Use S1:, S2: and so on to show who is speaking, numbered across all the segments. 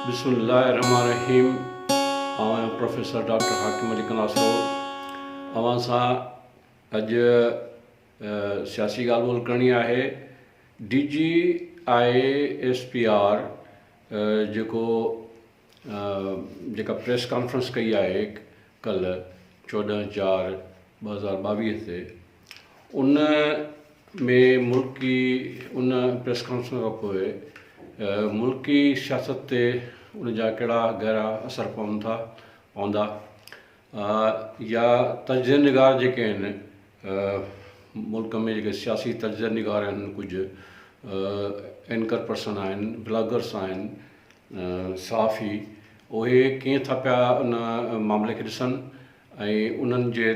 S1: بسم الله الرحمن الرحيم آئون آهيان پروفيسر ڊاڪٽر حاڪم علي ڪناسرو اوهان سان اڄ سياسي ڳالهه ٻولهه ڪرڻي آهي D G I S P R جيڪو جيڪا پريس ڪانفرنس ڪئي آهي ڪلهه چوڏهن چار ٻه هزار ٻاويهه تي ان ۾ ملڪي ان پريس ڪانفرنس کان پوء ملڪي سياست تي ان جا ڪهڙا گهرا اثر پون ٿا پوندا يا تجزيه نگار جيڪي آهن ملڪ ۾ جيڪي سياسي تجزيه نگار آهن ڪجهه اينڪر پرسن آهن بلاگرس آهن صحافي اهي ڪيئن ٿا پيا ان معاملي کي ڏسن ۽ انهن جي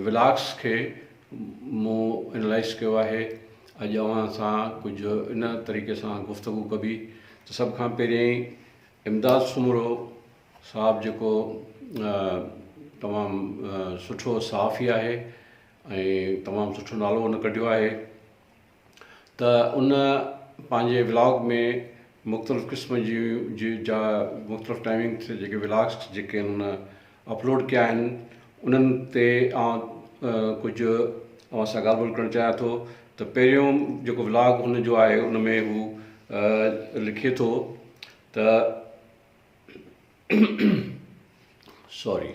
S1: ولاگس کي مون انالائز ڪيو آهي اڄ اوهان سان ڪجهه ان طريقي سان گفتگو ڪبي ته سڀ کان پهريائين امداد سومرو صاحب جيڪو تمام سٺو صحافي آهي ۽ تمام سٺو نالو ان ڪڍيو آهي ته ان پنهنجي ولاگ ۾ مختلف قسم جي جي جا مختلف ٽائمنگ تي جيڪي ولاگس جيڪي ان اپلوڊ ڪيا آهن انهن تي آن ڪجهه اوهان سان ڳالهه ٻولهه ڪرڻ چاهيان ٿو ته پهريون جيڪو ولاگ هن جو آهي ان ۾ هو لکي ٿو ته سوري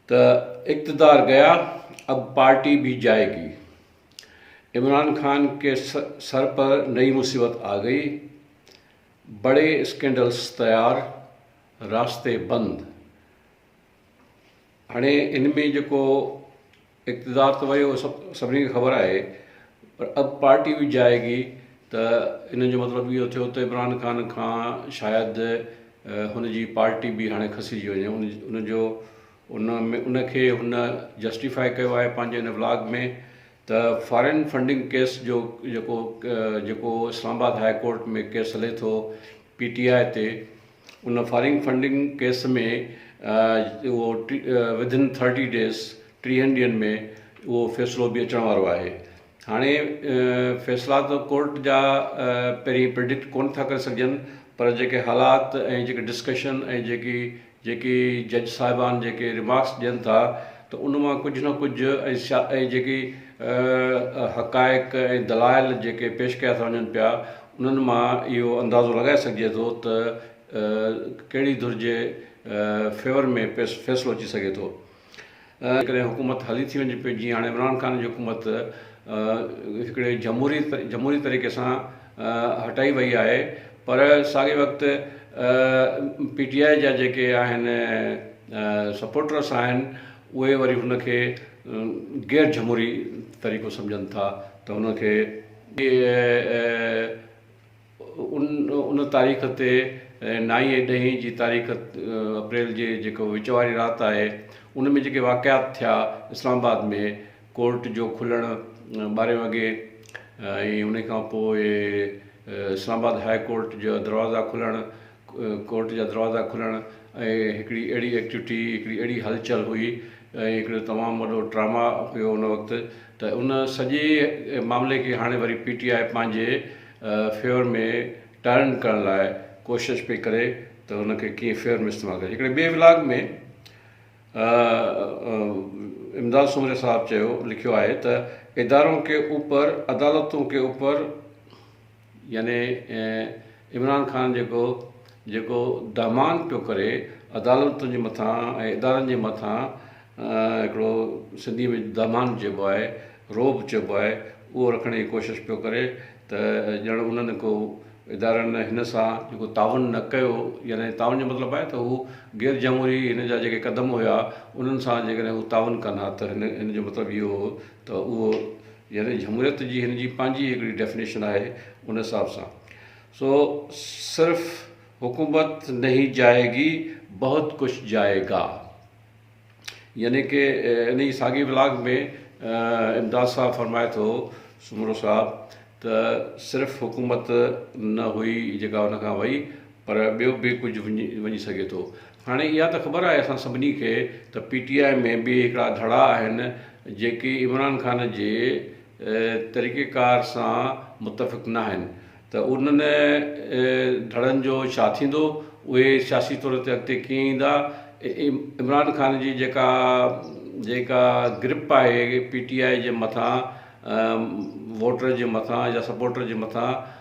S1: ته اقتدار گيا اب پارٽي بي جائي گي عمران خان ڪي سر پر نئي مصيبت آ گئي بڙي اسڪينڊلس تيار راسته بند هاڻي ان ۾ جيڪو اقتدار ته ويو اهو سڀني کي خبر آهي پر اب پارٽي به جائي گي ته ان جو مطلب اهو ٿيو ته عمران خان کان شايد هن جي پارٽي به هاڻي کسجي وڃي ان جو ان ۾ ان کي هن جسٽيفائي ڪيو آهي پنهنجي ان بلاگ ۾ ته فارين فنڊنگ ڪيس جو جيڪو جيڪو Islamabad high court ۾ case هلي ٿو پي ٽي آء تي ان فارين فنڊنگ ڪيس ۾ اهو وڌن ٿرٽي ڊيز ٽيهن ڏينهن ۾ اهو فيصلو به اچڻ وارو آهي هاڻي فيصلا ته ڪورٽ جا پهرين پرڊڪٽ ڪون ٿا ڪري سگهجن پر جيڪي حالات ۽ جيڪي ڊسڪشن ۽ جيڪي جيڪي جج صاحبان جيڪي رمارڪس ڏين ٿا ته ان مان ڪجهه نه ڪجهه ۽ جيڪي اهي حقائق ۽ دلائل جيڪي پيش ڪيا ٿا وڃن پيا، انهن مان اهو اندازو لڳائي سگهجي ٿو ته ڪهڙي ڌر جي فيور ۾ فيصلو اچي سگهي ٿو. جيڪڏهن حڪومت هلي ٿي وڃي پئي، جيئن هاڻي عمران خان جي حڪومت هڪڙي جمهوري طريقي سان هٽائي وئي آهي، پر ساڳئي وقت پي ٽي آء جا جيڪي آهن سپورٽرس آهن، اهي وري ان کي غير جھموري طريقو سمجھن ٿا ته ان کي ڏي ۽ ان تاريخ تي نائين ۽ ڏهين جي تاريخ اپريل جي جيڪو وچ واري رات آهي ان ۾ جيڪي واقعات ٿيا اسلام آباد ۾ ڪورٽ جو کلڻ ٻارهين وڳي ۽ ان کان پوء اسلام آباد هاء ڪورٽ جا دروازا کلڻ ڪورٽ جا دروازا کلڻ ۽ هڪڙي اهڙي ايڪٽوٽي هڪڙي اهڙي هلچل هئي ۽ هڪڙو تمام وڏو ڊراما هيو ان وقت ته ان سڄي معاملي کي هاڻي وري پي ٽي آء پنهنجي فيور ۾ ٽرن ڪرڻ لاء ڪوشش پئي ڪري ته ان کي ڪيئن فيور ۾ استعمال ڪري هڪڙي ٻئي ولاگ ۾ امداد سومري صاحب چيو لکيو آهي ته ادارون ڪي اوپر عدالتون ڪي اوپر يعني عمران خان جيڪو جيڪو دهمان پيو ڪري عدالتن جي مٿان ۽ ادارن جي مٿان هڪڙو سنڌي ۾ دهمان چئبو آهي رعب چئبو آهي اهو رکڻ جي ڪوشش پيو ڪري ته ڄڻ انهن ڪو ادارن هن سان جيڪو تعاون نه ڪيو يعني تعاون جو مطلب آهي ته هو غير جمهوري هن جا جيڪي قدم هيا انهن سان جيڪڏهن هو تعاون ڪن ها ته هن جو مطلب اهو هو ته اهو يعني جمهوريت جي هن جي پنهنجي هڪڙي ڊيفنيشن آهي ان حساب سان سو صرف حڪومت نهين جائي گي بهت ڪجھ جائي گا يعني ڪي ان جي ساڳي ولاگ ۾ امداد صاحب فرمائي ٿو سومرو صاحب ته صرف حڪومت نه هئي جيڪا ان کان وئي پر ٻيو به ڪجھ وڃي سگهي ٿو هاڻي اها ته خبر آهي اسان سڀني کي ته پي ٽي آء ۾ به هڪڙا ڌڙا آهن جيڪي عمران خان جي طريقي ڪار سان متفق ناهن ته انهن ڌڙن جو ڇا ٿيندو اهي سياسي طور تي اڳتي ڪيئن ايندا عمران خان جي جيڪا جيڪا گرپ آهي پي ٽي آء جي مٿان ووٽر جي مٿان يا سپورٽر جي مٿان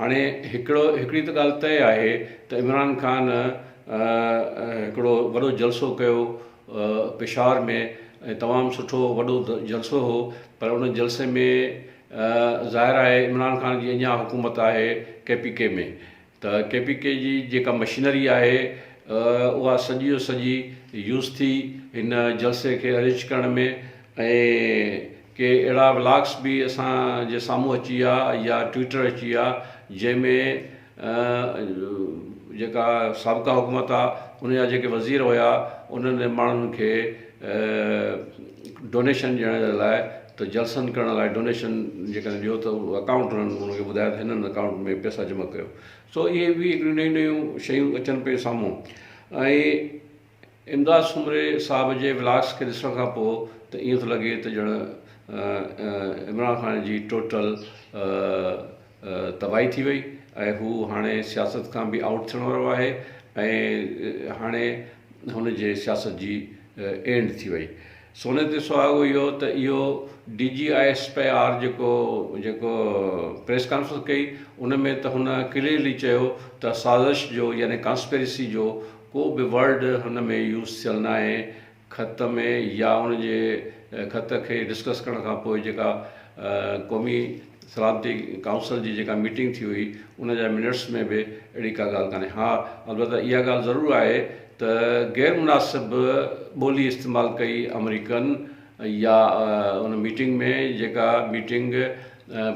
S1: هاڻي هڪڙو هڪڙي ته ڳالهه طئي آهي ته عمران خان هڪڙو وڏو جلسو ڪيو پشاور ۾ ۽ تمام سٺو وڏو جلسو هو پر ان جلسي ۾ ظاهر آهي عمران خان جي اڃان حڪومت آهي ڪي پي ڪي ۾ ته ڪي پي ڪي جي جيڪا مشينري آهي اها سڄي جو سڄي يوز ٿي هن جلسي کي ارينج ڪرڻ ۾ ۽ ڪي اهڙا ولاگس به اسان جي سامهون اچي ويا يا ٽوئيٽر اچي ويا جنهن ۾ جيڪا سابقا حڪومت آ ان جا جيڪي وزير هيا انهن ماڻهن کي ڊونيشن ڏيڻ جي لاء ته جلسن ڪرڻ لاء ڊونيشن جيڪڏهن ڏيو ته اڪائونٽ انهن ان کي ٻڌايو ته هنن اڪائونٽ ۾ پئسا جمع ڪيو سو اهي به هڪڙيون نيون نيون شيون اچن پيون سامهون ۽ امداد سومري صاحب جي ولاگس کي ڏسڻ کان پوء ته ائين ٿو لڳي ته ڄڻ عمران خان جي ٽوٽل تباهي ٿي وئي ۽ هو هاڻي سياست کان به آئوٽ ٿيڻ وارو آهي ۽ هاڻي هن جي سياست جي اينڊ ٿي وئي سوني تي سهاڳو اهو ته اهو D G I S P R جيڪو جيڪو پريس ڪانفرنس ڪئي ان ۾ ته هن ڪليئرلي چيو ته سازش جو يعني ڪانسپيرسي جو ڪو به ورڊ هن ۾ يوز ٿيل ناهي خط ۾ يا ان جي خط کي ڊسڪس ڪرڻ کان پوء جيڪا قومي سلامتي ڪائونسل جي جيڪا ميٽنگ ٿي هئي ان جا منٽس ۾ به اهڙي ڪا ڳالهه ڪانهي ها البته اها ڳالهه ضرور آهي ته غير مناسب ٻولي استعمال ڪئي آمريڪن يا ان ميٽنگ ۾ جيڪا ميٽنگ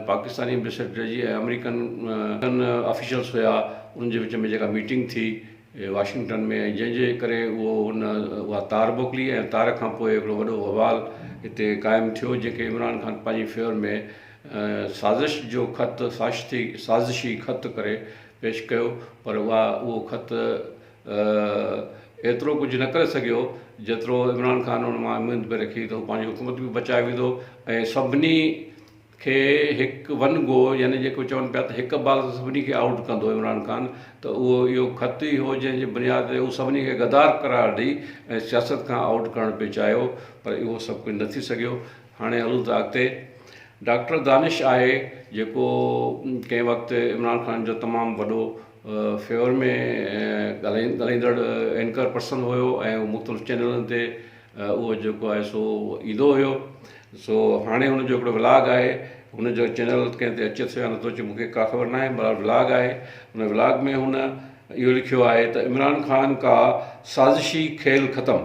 S1: پاڪستاني ايمبيسيڊر جي ۽ آمريڪن آفيشلز هيا انهن جي وچ ۾ جيڪا ميٽنگ ٿي واشنگٽن ۾ ۽ جنهن جي ڪري اهو ان اها تار موڪلي ۽ تار کان پوء هڪڙو وڏو ووال هتي قائم ٿيو جنهن کي عمران خان پنهنجي فيور ۾ سازش جو خط ساشتي سازشي خط ڪري پيش ڪيو پر اها اهو خط هو ايترو ڪجهه نه ڪري سگهيو جيترو عمران خان ان مان اميد پئي رکي ته هو پنهنجي حڪومت به بچائي ويندو ۽ سڀني کي هڪ ون گو يعني جيڪو چون پيا ته هڪ بال سان سڀني کي آئوٽ ڪندو عمران خان ته اهو اهو خط ئي هو جنهن جي بنياد تي هو سڀني کي غدار قرار ڏئي ۽ سياست کان آئوٽ ڪرڻ پئي چاهيو پر اهو سڀ ڪجهه نه ٿي سگهيو هاڻي هلون ٿا اڳتي ڊاڪٽر دانش آهي جيڪو ڪنهن وقت عمران خان جو تمام وڏو فيور ۾ ڳالهائيندڙ اينڪر پرسن هيو ۽ مختلف چينلن تي اهو جيڪو آهي سو ايندو هيو سو هاڻي هن جو هڪڙو ولاگ آهي هن جو چينل ڪنهن تي اچي ٿو يا نٿو اچي مونکي ڪا خبر ناهي بهرحال ولاگ آهي هن ولاگ ۾ هن اهو لکيو آهي ته عمران خان ڪا سازشي کيل ختم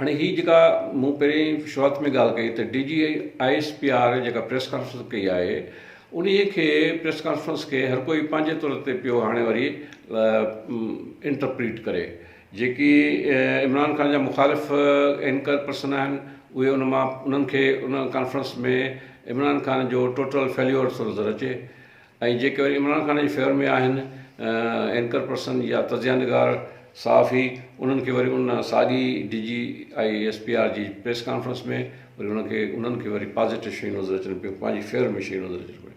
S1: هاڻي هي جيڪا مون پهرين شروعات ۾ ڳالهه ڪئي ته D G I S P R جيڪا پريس ڪانفرنس ڪئي آهي انهي کي پريس ڪانفرنس کي هر ڪوئي پنهنجي طور تي پيو هاڻي وري انٽرپريٽ ڪري جيڪي عمران خان جا مخالف اينڪر پرسن آهن اهي ان مان انهن کي ان ڪانفرنس ۾ عمران خان جو ٽوٽل فيليور ٿو نظر اچي ۽ جيڪي وري عمران خان جي فيور ۾ آهن اينڪر پرسن يا تجزيه نگار صحافي انهن کي وري ان ساڳي D G I S P R جي پريس ڪانفرنس ۾ وري انهن کي انهن کي وري پازيٽو شيون نظر اچن پيون پنهنجي فيور ۾ شيون نظر اچن پيون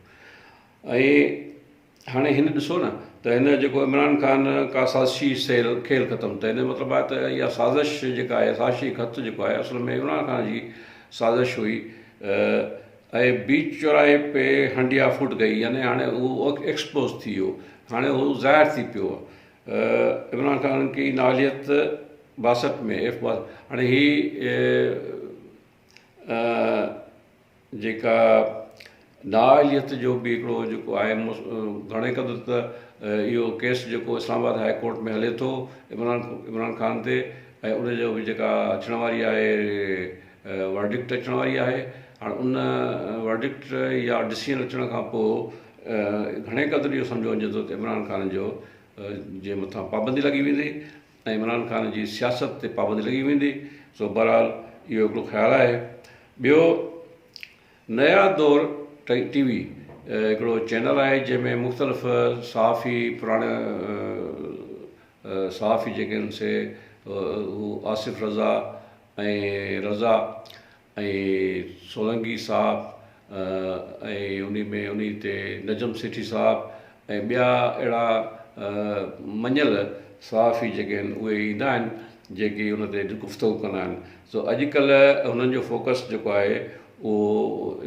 S1: ۽ هاڻي هن ڏسو نه ته هن جيڪو عمران خان ڪا سازشي سيل کيل ختم ته هن مطلب آهي ته اها سازش جيڪا آهي سازشي خط جيڪو آهي اصل ۾ عمران خان جي سازش هئي اهي بيچ چوراهي پي هنڊيا ڦٽ گئي يعني هاڻي اهو ايڪسپوز ٿي ويو هاڻي اهو ظاهر ٿي پيو عمران خان ڪي ناليت باسٽ ۾ ايف باس هاڻي هي جيڪا نااهليت جو به هڪڙو جيڪو آهي گهڻي قدر ته اهو ڪيس جيڪو اسلام آباد هاء ڪورٽ ۾ هلي ٿو عمران عمران خان تي ۽ ان جو به جيڪا اچڻ واري آهي ورڊڪٽ اچڻ واري آهي هاڻ ان ورڊڪٽ يا ڊسيزن اچڻ کان پوء گهڻي قدر اهو سمجهيو وڃي ٿو ته عمران خان جو جي مٿان پابندي لڳي ويندي ۽ عمران خان جي سياست تي پابندي لڳي ويندي سو بهرحال اهو هڪڙو خيال آهي ٻيو نيا دور ٽي وي هڪڙو چينل آهي جنهن ۾ مختلف صحافي پراڻا صحافي جيڪي آهن سي آصف رضا ۽ رضا ۽ سولنگي صاحب ۽ انهي ۾ انهي تي نجم سيٺي صاحب ۽ ٻيا اهڙا مڃيل صحافي جيڪي آهن اهي ايندا آهن جيڪي ان تي گفتگو ڪندا آهن سو اڄ ڪلهه هنن جو فوڪس جيڪو آهي اهو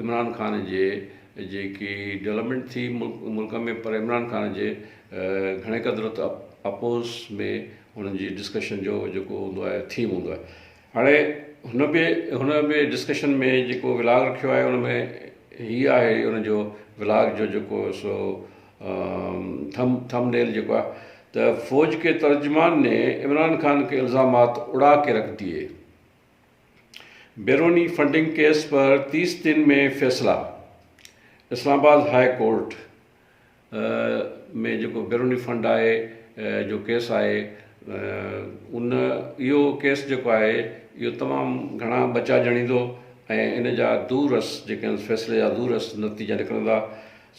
S1: عمران خان جي جيڪي ڊولپمينٽ ٿي ملڪ ۾ پر عمران خان جي گهڻي قدر اپوز ۾ انهن جي ڊسڪشن جو جيڪو هوندو آهي ٿيم هوندو آهي هاڻي هن به هن به ڊسڪشن ۾ جيڪو ولاگ رکيو آهي ان ۾ هي آهي ان جو ولاگ جو جيڪو سو ٿم ٿم نيل جيڪو آهي ته فوج کي ترجمان ني عمران خان کي الزامات اڙا کي رک ديئي بيروني فنڊنگ ڪيس پر تيس دن ۾ فيصلا اسلام آباد هاء ڪورٽ ۾ جيڪو بيروني فنڊ آهي جو ڪيس آهي ان اهو ڪيس جيڪو آهي اهو تمام گهڻا ٻچا ڄڻيندو ۽ ان جا دور رس جيڪي آهن فيصلي جا دور رس نتيجا نڪرندا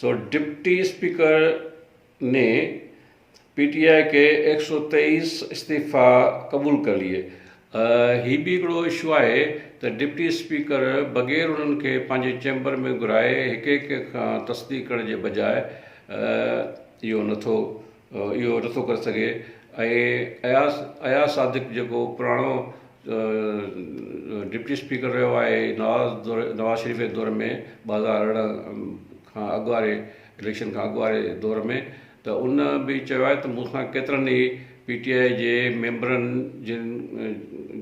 S1: سو ڊپٽي اسپيڪر ني پي ٽي آء ڪي ايڪ سو تيئيس استعفا قبول ڪر ليئي هي به هڪڙو اشو آهي ته ڊپٽي اسپيڪر بغير انهن کي پنهنجي چيمبر ۾ گهرائي هڪ هڪ کان تصديق ڪرڻ جي بجاء اهو نٿو اهو نٿو ڪري سگهي ۽ اياز اياز صادق جيڪو پراڻو ڊپٽي اسپيڪر رهيو آهي نواز دور نواز شريف جي دور ۾ ٻه هزار ارڙهن کان اڳ واري اليڪشن کان اڳ واري دور ۾ ته ان به چيو آهي ته مون سان ڪيترن ئي پي ٽي آء جي ميمبرن جن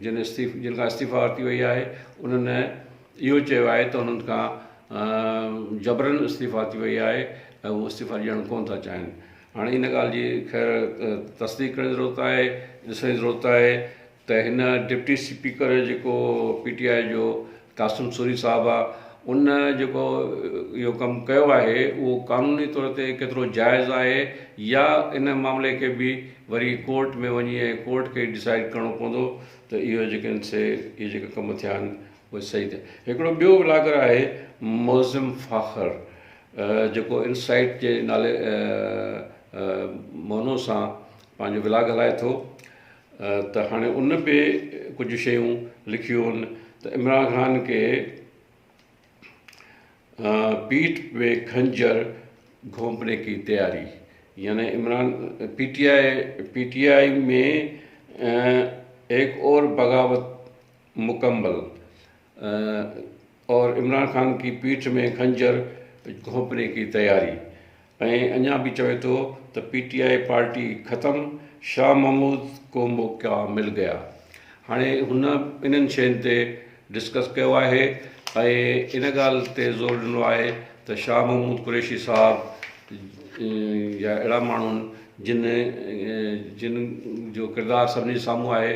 S1: جن استعيف جن کان استعيفا ورتي وئي آهي انهن اهو چيو آهي ته انهن کان جبرن استعيفا ورتي وئي آهي ۽ هو استعيفا ڏيڻ ڪونه ٿا چاهين هاڻي ان ڳالهه جي خير تصديق ڪرڻ جي ضرورت آهي ڏسڻ جي ضرورت آهي ته هن ڊپٽي سپيڪر جيڪو پي ٽي آء جو قاسم سوري صاحب آ ان جيڪو اهو ڪم ڪيو آهي اهو قانوني طور تي ڪيترو جائز آهي يا ان معاملي کي به وري ڪورٽ ۾ وڃي ۽ ڪورٽ کي ڊسائيڊ ڪرڻو پوندو ته اهو جيڪي آهن سي اهي جيڪا ڪم ٿيا آهن اهي صحيح ٿيا هڪڙو ٻيو ولاگر آهي معظم فاخر جيڪو انسائيٽ جي نالي مونو سان پنهنجو ولاگ هلائي ٿو ته هاڻي ان به ڪجهه شيون لکيون هن ته عمران خان کي پيٺ پي خنجر گهونپني ڪي تياري يعني Imran P T I P T I ۾ هڪ اور بغاوت مڪمل اور عمران خان ڪي پيٺ مين خنجر گهونپني ڪي تياري ۽ اڃا به چوي ٿو ته پي ٽي آء پارٽي ختم شاھ محمود ڪو موقعا مل گيا هاڻي هن انهن شين تي ڊسڪس ڪيو آهي ۽ ان ڳالهه تي زور ڏنو آهي ته شاھ محمود قريشي صاحب جا اهڙا ماڻهن جن جن جو ڪردار سڀني جي سامهون آهي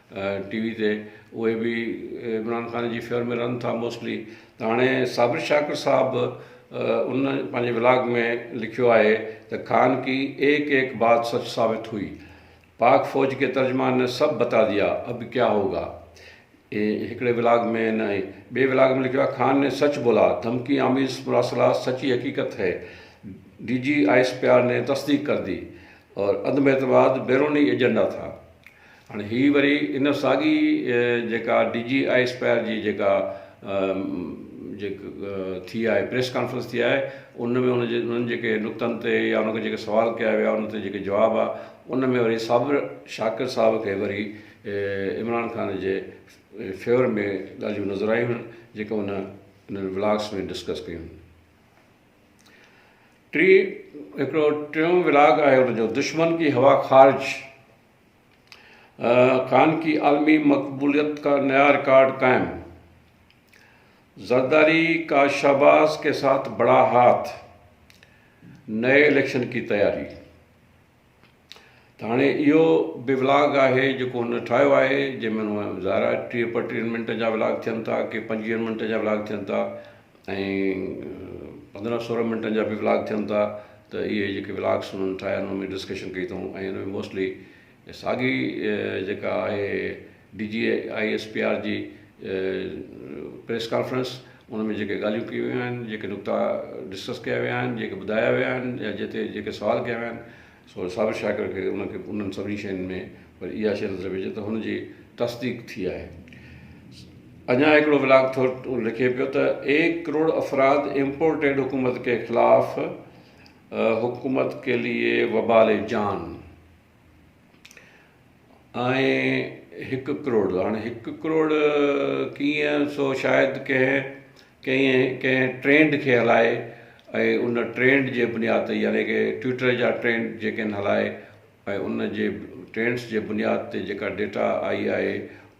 S1: ٽي وي تي اهي به عمران خان جي فيور ۾ رهن ٿا موسٽلي ته هاڻي صابر شاڪر صاحب ان پنهنجي ولاگ ۾ لکيو آهي ته خان ڪي ايڪ ايڪ بات سچ ثابت هئي پاڪ فوج ڪي ترجمان نه سڀ بتا ديا اب ڪيا هوگا هڪڙي ولاگ ۾ نه ٻي ولاگ ۾ لکيو آهي خان ني سچ بولا ڌمڪي آميز مراسلات سچي حقيقت هي D G I S P R ني تصديق ڪردي اور عدم اعتماد بيروني ايجنڊا ٿا هاڻي هي وري ان ساڳي جيڪا ڊي جي آء اسپائر جي جيڪا ٿي آهي پريس ڪانفرنس ٿي آهي ان ۾ ان جي انهن جيڪي نقطن تي يا ان کي جيڪي سوال ڪيا ويا ان تي جيڪي جواب آ ان ۾ وري صابر شاڪر صاحب کي وري عمران خان جي فيور ۾ ڳالهيون نظر آيون هن جيڪا ان انهن ولاگس ۾ ڊسڪس ڪيون ٽي هڪڙو ٽيون ولاگ آهي ان جو دشمن ڪي هوا خارج خان ڪي عالمي مقبوليت ڪا نيا رڪارڊ قائم، زرداري ڪا شهباز ڪي ساٿ بڙا هاٿ، نئين اليڪشن ڪي تياري. ته هاڻي اهو به ولاگ آهي جيڪو هن ٺاهيو آهي جنهن ۾ ظاهر آهي ٽيهه پنجٽيهه منٽ جا ولاگ ٿين ٿا ڪي پنجويهن منٽ جا ولاگ ٿين ٿا ۽ پندرهن سورهن منٽن جا به ولاگ ٿين ٿا ته اهي جيڪي ولاگس انهن ٺاهيا آهن ان ۾ ڊسڪشن ڪئي اٿئون ۽ ان ۾ موسٽلي ساڳي جيڪا آهي D G I S P R جي پريس ڪانفرنس ان ۾ جيڪي ڳالهيون ڪيون ويون آهن جيڪي نقطا ڊسڪس ڪيا ويا آهن جيڪي ٻڌايا ويا آهن يا جتي جيڪي سوال ڪيا ويا آهن سو صابر شاڪر کي ان کي انهن سڀني شين ۾ وري اها شي نظر پئجي ته هن جي تصديق ٿي آهي. اڃا هڪڙو ولاگ ٿورٽ لکي پيو ته ايڪ ڪروڙ افراد امپورٽيڊ حڪومت ڪي خلاف حڪومت ڪي ليي وبال جان. آهي هڪ ڪروڙ جو هاڻي هڪ ڪروڙ ڪيئن سو شايد ڪنهن ڪنهن ڪنهن ٽرينڊ کي هلائي ۽ ان ٽرينڊ جي بنياد تي يعني ڪي ٽوئٽر جا ٽرينڊ جيڪي آهن هلائي ۽ ان جي ٽرينڊس جي بنياد تي جيڪا ڊيٽا آئي آهي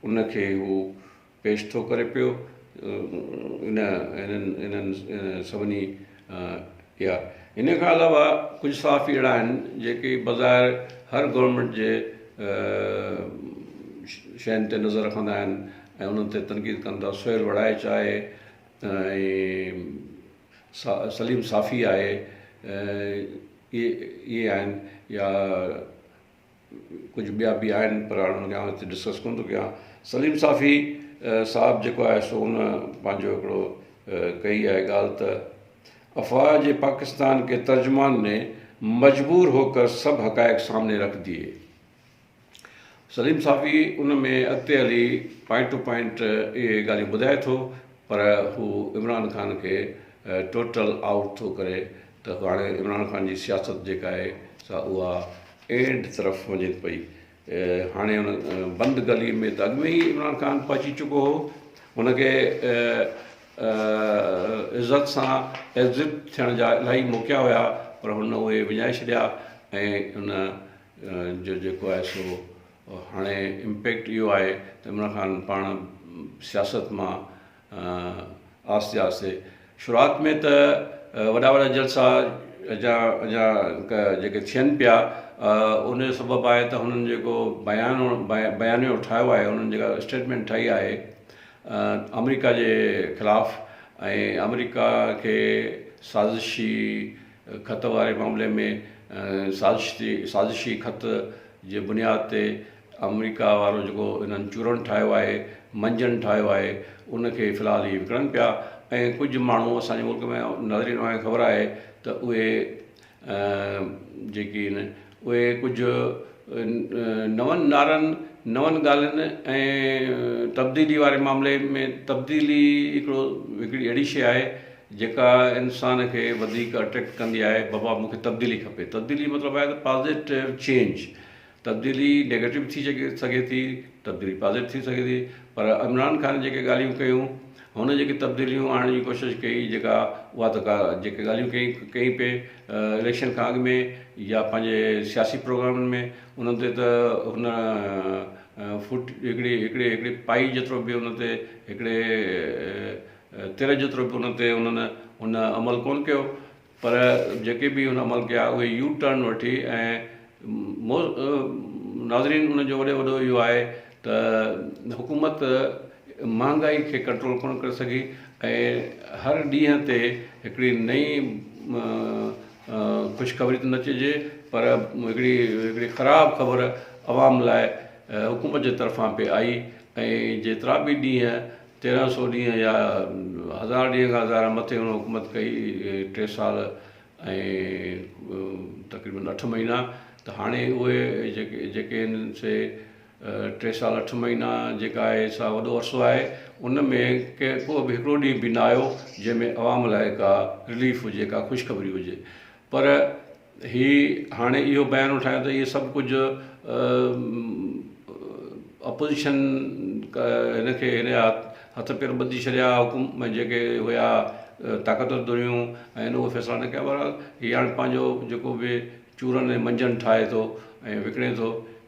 S1: ان کي هو پيش ٿو ڪري پيو انهن سڀني اها ان کان علاوه ڪجهه صحافي اهڙا آهن جيڪي بظاهر هر گورنمينٽ جي شين تي نظر رکندا آهن ۽ انهن تي تنقيد ڪن ٿا سهيل وڙائچ آهي ۽ سليم صافي آهي اهي آهن يا ڪجهه ٻيا به آهن پر هاڻي اڃان هتي ڊسڪس ڪونه ٿو ڪيان سليم صافي صاحب جيڪو آهي سو ان پنهنجو هڪڙو ڪئي آهي ڳالهه ته افواهه جي پاڪستان ڪي ترجمان ني مجبور هو ڪر سڀ حقائق سامني رک ديئي سليم صافي ان ۾ اڳتي هلي پوائنٽ ٽو پوائنٽ اهي ڳالهيون ٻڌائي ٿو پر هو عمران خان کي ٽوٽل آئوٽ ٿو ڪري ته هاڻي عمران خان جي سياست جيڪا آهي سا اها اينڊ طرف وڃي پئي هاڻي ان بند گلي ۾ ته اڳ ۾ ئي عمران خان پهچي چڪو هو هن کي عزت سان ايگزٽ ٿيڻ جا الاهي موقعا هيا پر هن اهي وڃائي ڇڏيا ۽ ان جو جيڪو آهي سو هاڻي امپيڪٽ اهو آهي ته عمران خان پاڻ سياست مان آهستي آهستي شروعات ۾ ته وڏا وڏا جلسا جا جا جيڪي ٿين پيا ان جو سبب آهي ته هنن جيڪو بيان بيانيو ٺاهيو آهي هنن جيڪا اسٽيٽمينٽ ٺاهي آهي آمريڪا جي خلاف ۽ آمريڪا کي سازشي خط واري معاملي ۾ سازشي سازشي خط جي بنياد تي آمريڪا وارو جيڪو انهن چورن ٺاهيو آهي منجن ٺاهيو آهي ان کي في الحال هي وڪڻن پيا ۽ ڪجهه ماڻهو اسان جي ملڪ ۾ نظر ايندو آهي خبر آهي ته اهي جيڪي ان اهي ڪجهه نون نارن نون ڳالهين ۽ تبديلي واري معاملي ۾ تبديلي هڪڙو هڪڙي اهڙي شي آهي جيڪا انسان کي وڌيڪ اٽريڪٽ ڪندي آهي بابا مونکي تبديلي کپي تبديلي مطلب آهي ته پازيٽو چينج تبديلي نيگيٽو به ٿي سگهي ٿي تبديلي پازيٽو ٿي سگهي ٿي پر عمران خان جيڪي ڳالهيون ڪيون هن جيڪي تبديليون آڻڻ جي ڪوشش ڪئي جيڪا اها ته ڪا جيڪي ڳالهيون ڪئي ڪئي پئي اليڪشن کان اڳ ۾ يا پنهنجي سياسي پروگرامن ۾ انهن تي ته هن فوٽ هڪڙي هڪڙي هڪڙي پائي جيترو به ان تي هڪڙي تر جيترو به ان تي انهن ان عمل ڪون ڪيو پر جيڪي به هن عمل ڪيا اهي يو ٽرن وٺي ۽ مو ناظرين ان جو وڏي وڏو اهو آهي ته حڪومت مهانگائي کي ڪنٽرول ڪونه ڪري سگهي ۽ هر ڏينهن تي هڪڙي نئين خوشخبري ته نه چئجي پر هڪڙي هڪڙي خراب خبر عوام لاء حڪومت جي طرفان پي آئي ۽ جيترا به ڏينهن تيرهن سؤ ڏينهن يا هزار ڏينهن کان ظاهرا مٿي هن حڪومت ڪئي ٽي سال ۽ تقريبن اٺ مهينا ته هاڻي اهي جيڪي جيڪي هن سي ٽي سال اٺ مهينا جيڪا آهي سا وڏو عرصو آهي ان ۾ ڪي ڪو به هڪڙو ڏينهن به نه آيو جنهن ۾ عوام لاء ڪا رليف هجي ڪا خوشخبري هجي پر هي هاڻي اهو بيان اٺايو ته اهي سڀ ڪجهه اپوزيشن هن کي هن جا هٿ پير ٻڌي ڇڏيا حڪم ۾ جيڪي هيا طاقتور ڌريون ۽ هن اهو فيصلا نه ڪيا بهرحال هي هاڻي پنهنجو جيڪو به چورن ۽ منجهن ٺاهي ٿو ۽ وڪڻي ٿو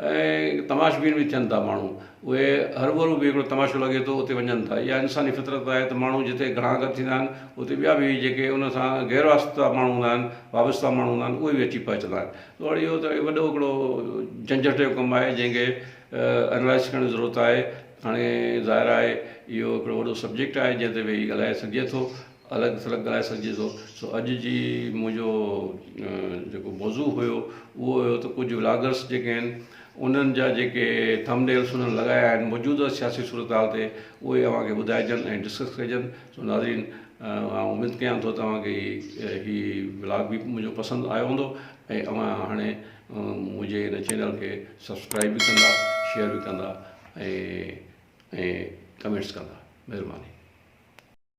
S1: ۽ تماشبين به ٿين ٿا ماڻهو اهي هربرو به هڪڙو تماشو لڳي ٿو اتي وڃن ٿا اها انساني فطرت آهي ته ماڻهو جتي گهڻا گڏ ٿيندا آهن اتي ٻيا به جيڪي ان سان غير واسطه ماڻهو هوندا آهن وابسته ماڻهو هوندا آهن اهي به اچي پهچندا آهن ته هاڻي اهو ته وڏو هڪڙو جهنجهٽ جو ڪم آهي جنهن کي انالائز ڪرڻ جي ضرورت آهي هاڻي ظاهر آهي اهو هڪڙو وڏو سبجيڪٽ آهي جنهن تي ويهي ڳالهائي سگهجي ٿو الڳ ٿلڳ ڳالهائي سگهجي ٿو سو اڄ جي منهنجو جيڪو موضوع هيو اهو هيو ته ڪجهه ولاگرس جيڪي آهن انهن جا جيڪي ٿمنيلس انهن لڳايا آهن موجوده سياسي صورتحال تي اهي اوهان کي ٻڌائجن ۽ ڊسڪس ڪجن سو ناظرين آئون اميد ڪيان ٿو توهان کي هي ولاگ به منهنجو پسند آيو هوندو ۽ اوهان هاڻي منهنجي هن چينل کي سبسڪرائب به ڪندا شيئر به ڪندا ۽ ڪمينٽس ڪندا مهرباني